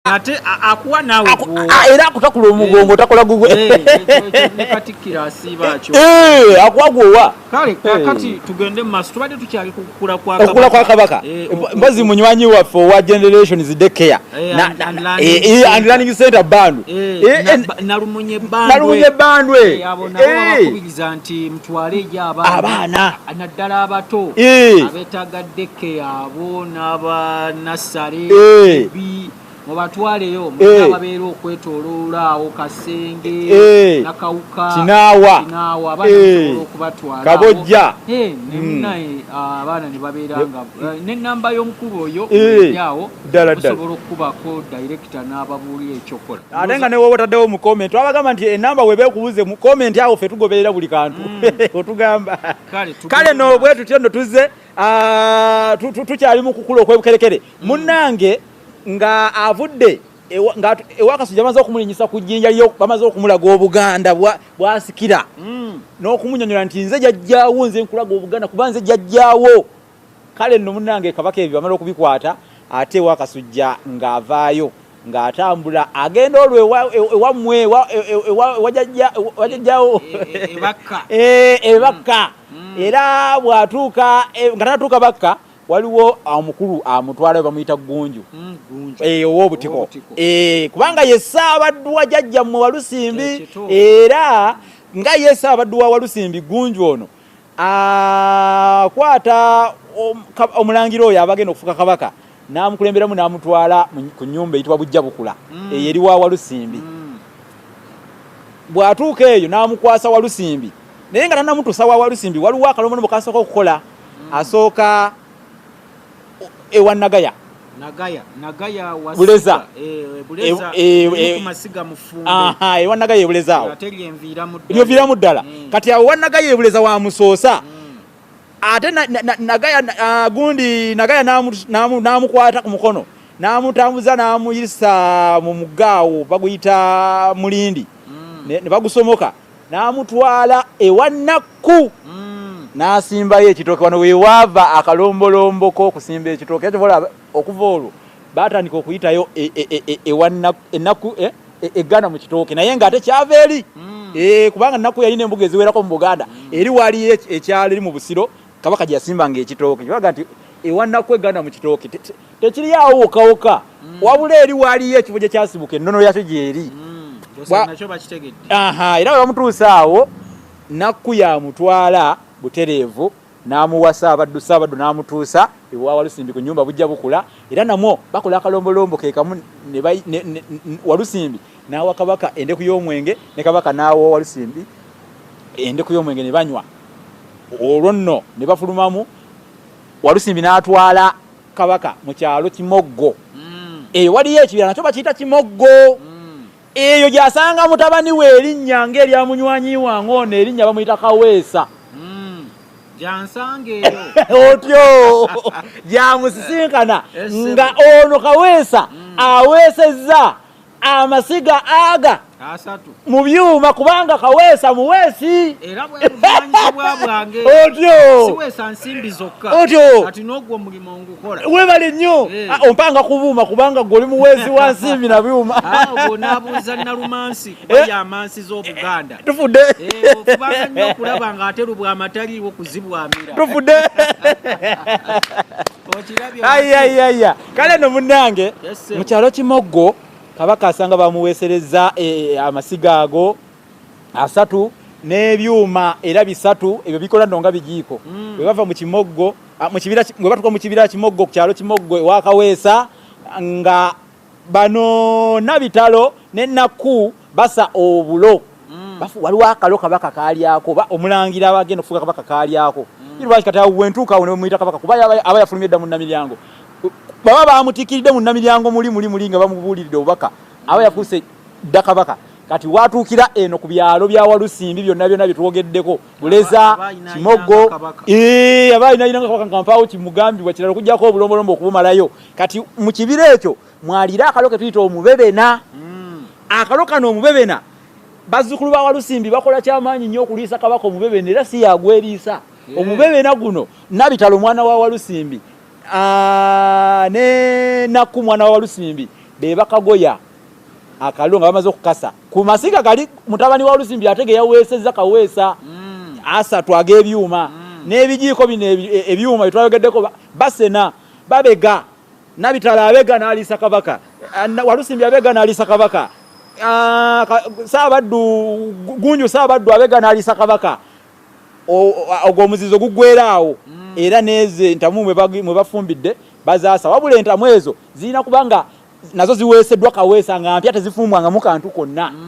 ate akuwa nawe era akutakula omugongo takola gugwekatikkiraasiibaakyo akuwa gwowa kale kakati tugende mumaso tubadde tukyali kukula kwakula kwa kabaka mbazi munywanyi waffe owa generations de care and learning center bandu nalumunye bandwe kukiriza nti mutwale eyo abaana abaana naddala abato Eh. abetagadde keyaabo n'abanassale Eh. bi mubatwaleyo Eh. mulina ababeera okwetoloola awo kasenge Eh. nakawuka Kinaawa. kinaawa abaana Eh. musobola okubatwala Kabojja. awo. Eh, ne Mm. munaye, ah, abaana ne babeera nga eh, n'ennamba y'omukulu oyo Eh. eryawo ddala ddalaosobola okukubako director n'ababuulira ekyokola ate nga newoba otaddewo mu comment abagamba nti enamba weba ekubuze mu comment awo fe tugoberera buli kantu mm. otugamba kale no bwe tutyo no tuzze ah, tukyali mu kukula okwebukerekere mm. munnange nga avudde ewakasujja bamaze okumulinyisa ku jjinja lyo bamaze okumulaga obuganda bwasikira mm. n'okumunyonyola nti nze jajjawo nze nkulaga obuganda kuba nze jajjawo Kale nno munnange Kabaka ebyo bamala okubikwata ate ewa Kasujja ng'avaayo ng'atambula agenda olwo ewammwe ewajajjawo ebakka eh, eh, mm. mm. era bw'atuuka eh, nga tatuuka bakka waliwo omukulu amutwalayo bamuyita ggunju mm, ow'obutiko kubanga ye ssaabaddwa jajjammwe walusimbi era nga ye ssaabaddwa walusimbi ggunju ono akwata omulangira oyo abagenda okufuka kabaka n'amukulemberamu n'amutwala ku nyumba eyitibwa bujja bukula mm. eyo eri wa walusimbi mm. bw'atuuka eyo n'amukwasa walusimbi naye nga tanamutuusa wa walusimbi waliwo akalombo nomukasooka okukola mm. asooka ewa nagaya nagaya nagaya wa buleza eh, eh buleza e, e, e, e, masiga mufumbe aha ewa nagaya buleza awo ateli envira mu dala envira mu dala mm. kati awo nagaya buleza wa musosa mm. ate na, na, na, nagaya na, uh, gundi nagaya namu namu namu kwata ku mukono namu tambuza namu yisa mu mugao baguyita mulindi mm. ne, ne bagusomoka n'amutwala ewa nakku mm. n'asimbayo ekitooke wano wewaava akalombolombo k'okusimba ekitooke kyobola okuva olwo baatandika okuyitayo e, e, e, ewanakku eggana mu kitooke naye ng'ate kyava eri mm. eh, kubanga nakku yalina embuga eziwerako mu buganda mm. eri waliyo ekyalo eri mu busiro kabaka gye yasimbanga ekitooke kyebaga nti ewanaku eganda mu kitooke tekiri awo wokawoka mm. wabula eri waaliyo ekifo gye kyasibuka ennono yakyo gyeri mm. era bwe bamutuusa awo nakku yamutwala butereevu n'amuwasa abaddu saabaddu n'amutuusa ewawalusimbi ku nyumba bujja bukula era namwo bakola akalombolombo kekamu walusimbi n'awa kabaka endeku y'omwenge ne kabaka n'awa owalusimbi endeku y'omwenge ne banywa olwo nno ne bafulumamu walusimbi n'atwala kabaka mu kyalo kimoggo mm. eyo waliyo ekibira nakyo bakiyita kimoggo mm. eyo gyasanga mutabani we erinnya ng'erya munywanyi wange ono erinnya bamuyita kaweesa mm. otyo gyamusisinkana nga ono kaweesa aweesezza amasiga aga mu byuma kubanga kaweesa muweesi otyowebale nnyo eh. ah, ompanga kubuuma kubanga gwe oli muweesi wa nsimbi na byuma tufudde ayayaya kale no munange mu kyalo kimoggo kabaka asanga bamuweesereza e, e, amasiga ago asatu n'ebyuma era bisatu ebyo bikola no nga bigiiko mm. bwe bava mu kimoggo bwe batuka mu kibira kimoggo ku kyalo kimoggo ewakaweesa nga bano nabitalo ne nakku basa obulo mm. waliwo akalo kabaka kalyako oba omulangira abagenda okufuga kabaka kalyako mm. lwaki kati awo wentuuka awo nemuyita kabaka kuba aba yafulumye dda mu namiryango baba bamutikiridde mu namiryango muli muli muli nga bamubuuliride obubaka aba mm. yafuuse dda kabaka kati watuukira eno ku byalo bya walusimbi byonna byonna bye twogeddeko buleza kimogo aba alinainanga kabaka nga mpaawo kimugambibwa kirala okujjako obulombolombo okubumalayo kati mu kibira ekyo mwalira akalo ke tuyita omubebena mm. akalo kano omubebena bazzukulu ba walusimbi bakola kyamaanyi nnyo okuliisa kabaka omubebena era si yagweriisa yeah. omubebena guno nabitala omwana wa walusimbi ah, ne nakku mwana wa walusimbi be bakagoya akaliro nga bamaze okukasa ku masiga gali mutabani wa lusimbi atege yaweesezza kaweesa mm. asatu ag'ebyuma mm. n'ebijiiko bino e, ebyuma byetwayogeddeko basena babega nabitala abega nalisa kabaka walusimbi abega nalisa kabaka ah, saabaddu gunju saabaddu abega nalisa kabaka ogwo omuzizo gugweraawo mm. era nezo entamu mwe bafumbidde bazaasa wabula entamu ezo zirina kubanga nazo ziweeseddwa kaweesa nga mpya tezifumbwangamu kantu konna mm.